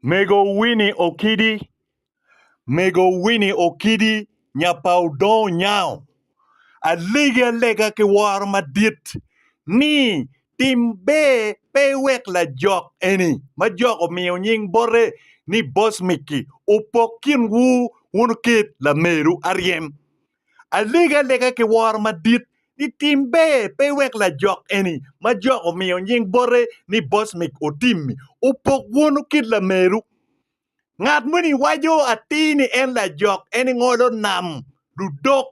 Mego Winnie Okidi, Mego Winnie Okidi nya pa Odong Onyango alegi alega ki woro madit ni tim ber pe iwek lajok eni ma jok omiyo nying bote ni Boss Micky opok kinwu wun oket lameru aryem Alege alega ki woro madit ni tim ber pe wek lajok eni ma Jok omiyo nying bote ni Bosmic otimmi opok wunu kit lameru. Ngat moni waco atir ni en lajok en ingolo nam ludok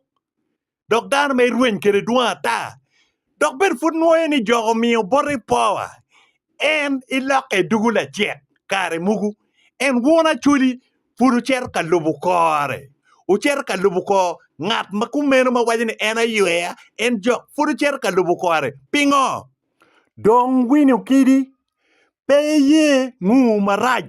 dok dano ma irweny kwede dwong ata Dok bed pud nwoyo ni jok omiyo boti power en ilokke dugu lacek kare mugu en won acholi pud wucito ka lubu kore wucito ka lubu kor ngat ma kumeno ma waco ni en ayweya en jok pud wucito ka lubu kore pingo dong winyo kidi pe iye ngu marac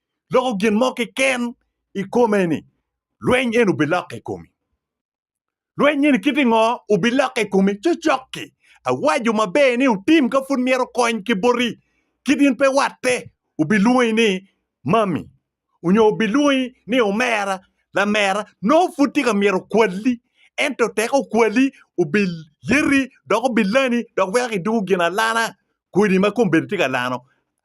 loko gin mo keken i kome ni lweny eni obilokke i komi. Lweny eni kiti ngo obilokke i komi cocok-ki. Awaco maber ni wutim ka pud myero kony ki boti kit in pe watte obilwongi ni mami onyo obilwongi ni omera, lamera nongo pud tye ka myero okwali ento tek okwali obilyeti dok obilani dok weko kidoko gin alana kodi ma kombedo tye ka lano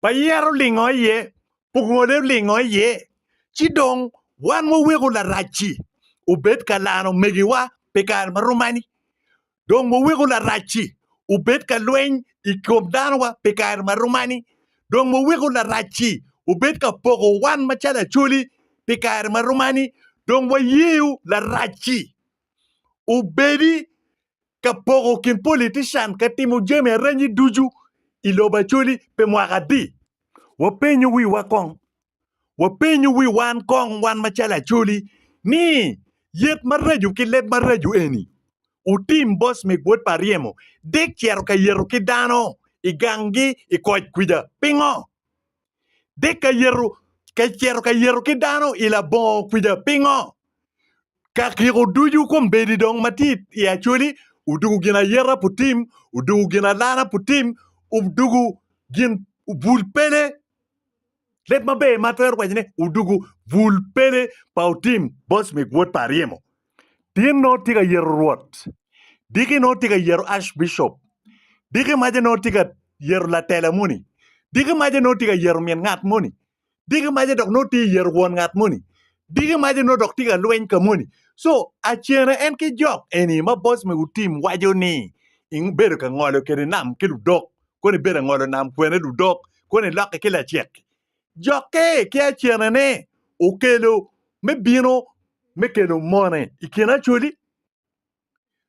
pa yero olingo iye, ongole olingo iye, ci dong wan waweko Larac-ci obed ka laro omegiwa pi kare ma rom mani? Dong waweko Larac-ci obed ka lweny i kom danowa pi kare ma rom mani? Dong waweko Larac-ci obed ka poko wan macalo acholi pi kare ma rom mani? Dong wayeyo Larac-ci obedi ka poko kin politician ka timo jami arenyi ducu i lobo Acholi pi mwaka adi? Wapenyo wiwa kong. Wapenyo wi wan kong wan macalo Acholi ni yet maraco ki leb maraco eni otim boss me gwod pa ryemo dek cito ka yeto ki dano i gang gi i koc kwica? Pingo? Dek ka yeto ka ceto ka yeto ki dano i labongo kwica pingo? Ka kiko ducu kombeddi dong matit i Acholi odugu gin ayeta pu tim, odugu gin alana pu tim, odugu gin bul pele leb maber ma atwero waco ni odugu bul pele pa otim boss mig wod pa aryemo. Tin nongo tye ka yero rwot, diki nongo tye ka yero Archbishop, diki maca nongo tye ka yero latela moni, diki maca nongo tye ka yero min ngat moni, diki maca dok nongo tye ka yero won ngat moni, diki maca nongo dok tye ka lweny ka moni. Co, acene en ki jok eni ma boss me gutim waco ni ibedo ka ngolo kede nam ki ludok, koni ibedo angolo nam kwene ludok, koni iloki ki lacek-ki, jokke ki acenene okelo me bino me kelo mone i kin Acholi,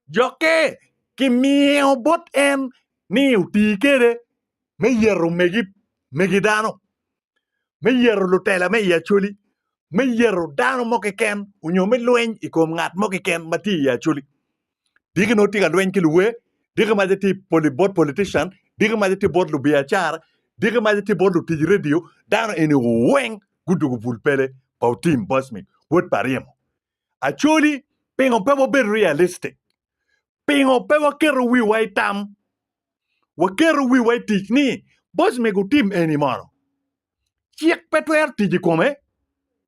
jokke kimiyo bot en ni oti kwede me yeto megi dano, me yeto lutela me i Acholi, me yeto dano mo keken nyo me lweny i kom ngat mo keken ma tye i Acholi. diki nongo tye ka lweny ki luwer, diki mace tye poli bot politician, diki mace tye bot lubiacara, diki mace tye bot lutic redio, dano eni weng gudugu bul pele pa Otim Bosmic wod pa Ryemo. Acholi pingo pe wabedo realistic? Pingo pe waketo wiwa i tam? Waketo wiwa i tic ni Bosmic Otim eni mono cik pe twero tic i kome?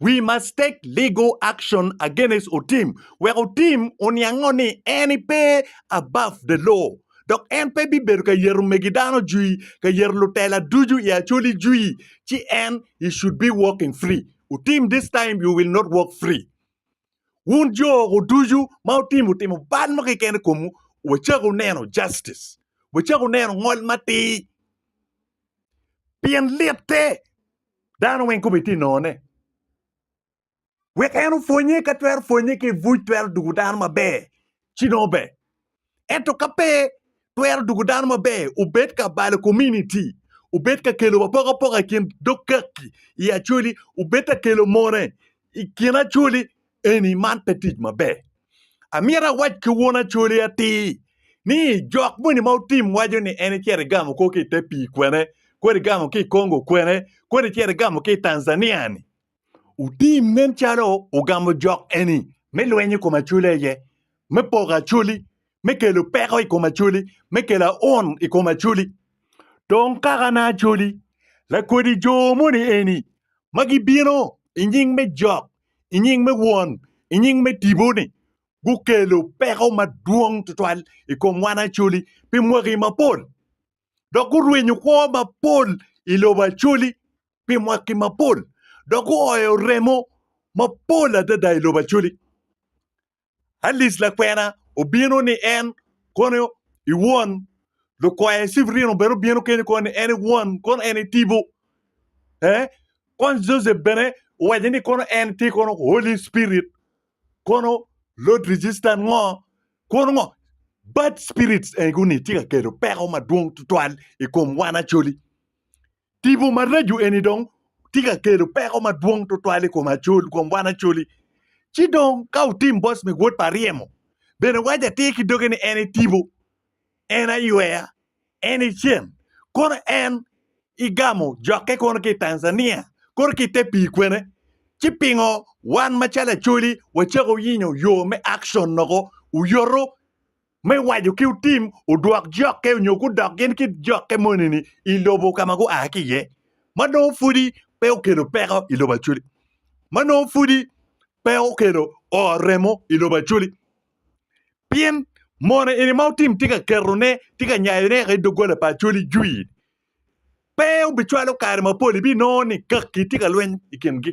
We must take legal action against Otim wek Otim oniango ni en pe above the law dok en pe bibedo ka yero megi dano jwi ka yero lutela ducu i Acholi jwi ci en he should be walking free. Otim this time you will not walk free. Wun jo oko ducu ma Otim otimo bal mo keken i komu wacako neno justice. Wacako neno ngol matir. Pien litte Dano weng kome tye nono ne. Wek en opwonye ka twero pwonye ki ibuc twero dugo dano maber ci nongo ber. Ento ka pe twero dugo dano maber obed ka balo kominiti, obed ka kelo apokapoka ikin dog kaki i acoli, obed ka kelo mone ikin acoli eni, man pe tic maber. Amyero awac ki won Acholi atir ni jok moni ma otim waco ni en icito igamo kor ki i te pii kwene, kodi igamo ki i Congo kwene, kodi icito igamo ki i Tanzania ni, otim nen calo ogamo jok eni me lweny i kom Acholi aye, me poko Acholi me kelo peko i kom Acholi, me kelo aun i kom Acholi. Dong kakana Acholi, lakodi jo moni eni ma gibino i nying me Jok, i nying me Won, i nying me Tipo-ni, gukelo peko madwong tutwal i kom wan Acholi pi mwaki mapol, dok gurwenyo kwo mapol i lobo Acholi pi mwaki mapol, dok guoyo remo mapol adada i lobo Acholi. Alice lakwena obino ni en kono i won lukoye Severino bene obino kenyo kono ni en i won kono en i tipo eh kono Joseph bene owaco ni kono en tye kono Holy Spirit kono Lord resistant ngo kono ngo bad spirits ego ni tye ka kelo peko madwong tutwal i kom wan Acholi Tipo maraco eni dong tye ka kelo peko madwong tutwal i kom Acoli, kom wan Acoli. Ci dong ka otim boss me wod pa ryemo, bene waco atir ki doge ni en e tipo, en aywer, en e cen. Kono en igamo jokke kono ki i Tanzania, kono ki i te pii kwene. Ci pingo wan macalo Acoli wacako yinyo yo me action noko, oyoto me waco ki otim odwok jokke onyo gudok gin ki jokke moni-ni i lobo ka ma gua ki iye, ma nongo pudi pe okelo peko i lobo Acoli, ma nongo pudi pe okelo oo remo i lobo Acoli. Pien mono eni ma otim tye ka ketone, tye ka nyayone woko i doggola pa Acoli jwi. Pe obicwalo kare mapol, ibinongo ni kaki tye ka lweny i kingi.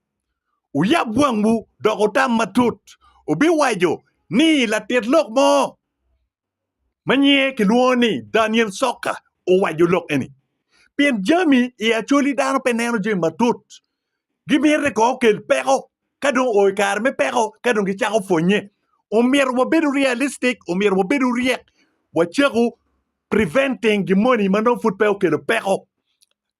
Wuyab wangwu dok wutam matut, wubiwaco ni latit lok mo ma nyinge kilwongo ni Daniel Soka owaco lok eni. Pien jami i Acholi dano pe neno jami matut, gimito ni kong okel peko ka dong oo i kare me peko ka dong gicako pwonnye. Omyero wabedo realistic, omyero wabedo ryek, wacako preventing gin moni ma nongo pud pe okelo peko.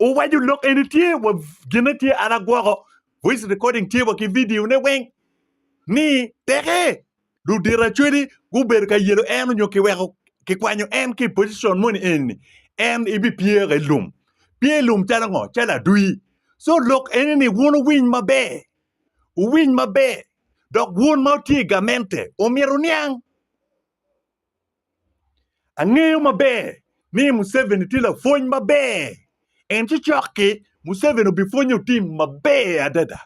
Owaco lok eni tye wa gine tye an agwoko voice recording tye wa ki video ne weng ni peke ludito acwedi gubedo ka yelo en onyo kiweko kikwanyo en ki position moni eni en ibi pyere i lum pye i lum calo ngo calo adwi so lok eni ni wun owiny maber owiny maber dok wun ma utye i gamente omyero oniang Angeyo maber ni Museveni tye lapwony maber. En ci cok-ki, Museveni obipwonyo tim maber adada.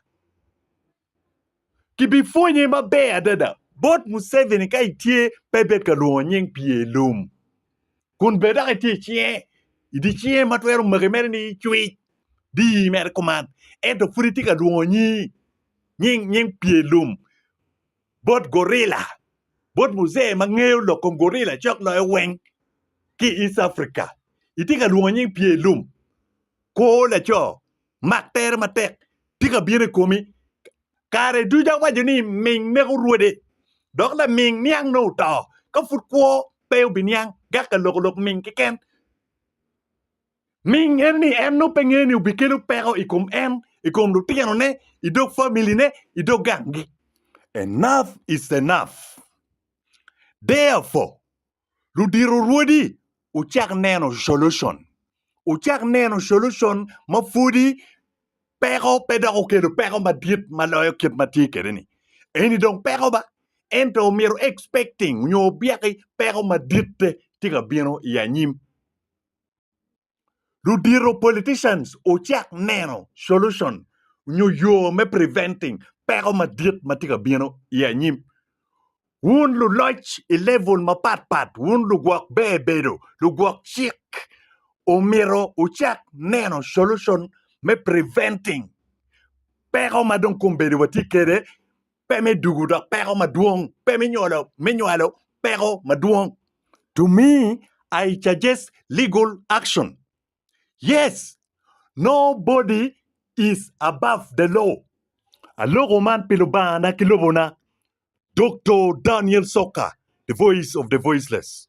Kibipwonye maber adada. Bot Museveni ka itye pe ibed ka lwongo nying pye i lum. Kun bed dok itye icinge, idi cinge ma twero maki mere ni icwic dii mere kuman. Ento pud itye ka lwongo nying nying pye i lum. bot gorila, bot muzee ma ngeyo lok kom gorila cok loyo weng ki i East Africa, itye ka lwongo nying pye lum, kwo laco, mak tere matek tye ka bino i komi. Kare ducu awaco ni ming neko rwode, dok laming niang nongo oto ka pud kwo pe obiniang, gak ka loko lok ming keken. Ming en ni en nongo pe ngeyo ni obikelo peko i kom en, i kom lutinone, i dog familine, i dog ganggi. Enough is enough! Therefore, ludito rwodi wucak neno solution. Wucak neno solution ma pwodi peko pe dok okelo peko madit ma loyo kit ma tye kwede ni. Eni dong peko ba, ento omyero expecting nyo obyeki peko maditte tye ka bino i anyim. ludito politicians ocak neno solution nyo yo me preventing peko madit matye ka bino i anyim. Wun luloc i level mapat pat, wun lugwok ber bedo, lugwok cik omito wucak neno solution me preventing peko madong kombeddi watye kede pe me dugu dok peko madwong, pe me nywalo, me nywalo peko madwong. To me, I suggest legal action. Yes, nobody is above the law. Aloko man pi Lubangana ki lobona, Doctor Daniel Soka, the voice of the voiceless.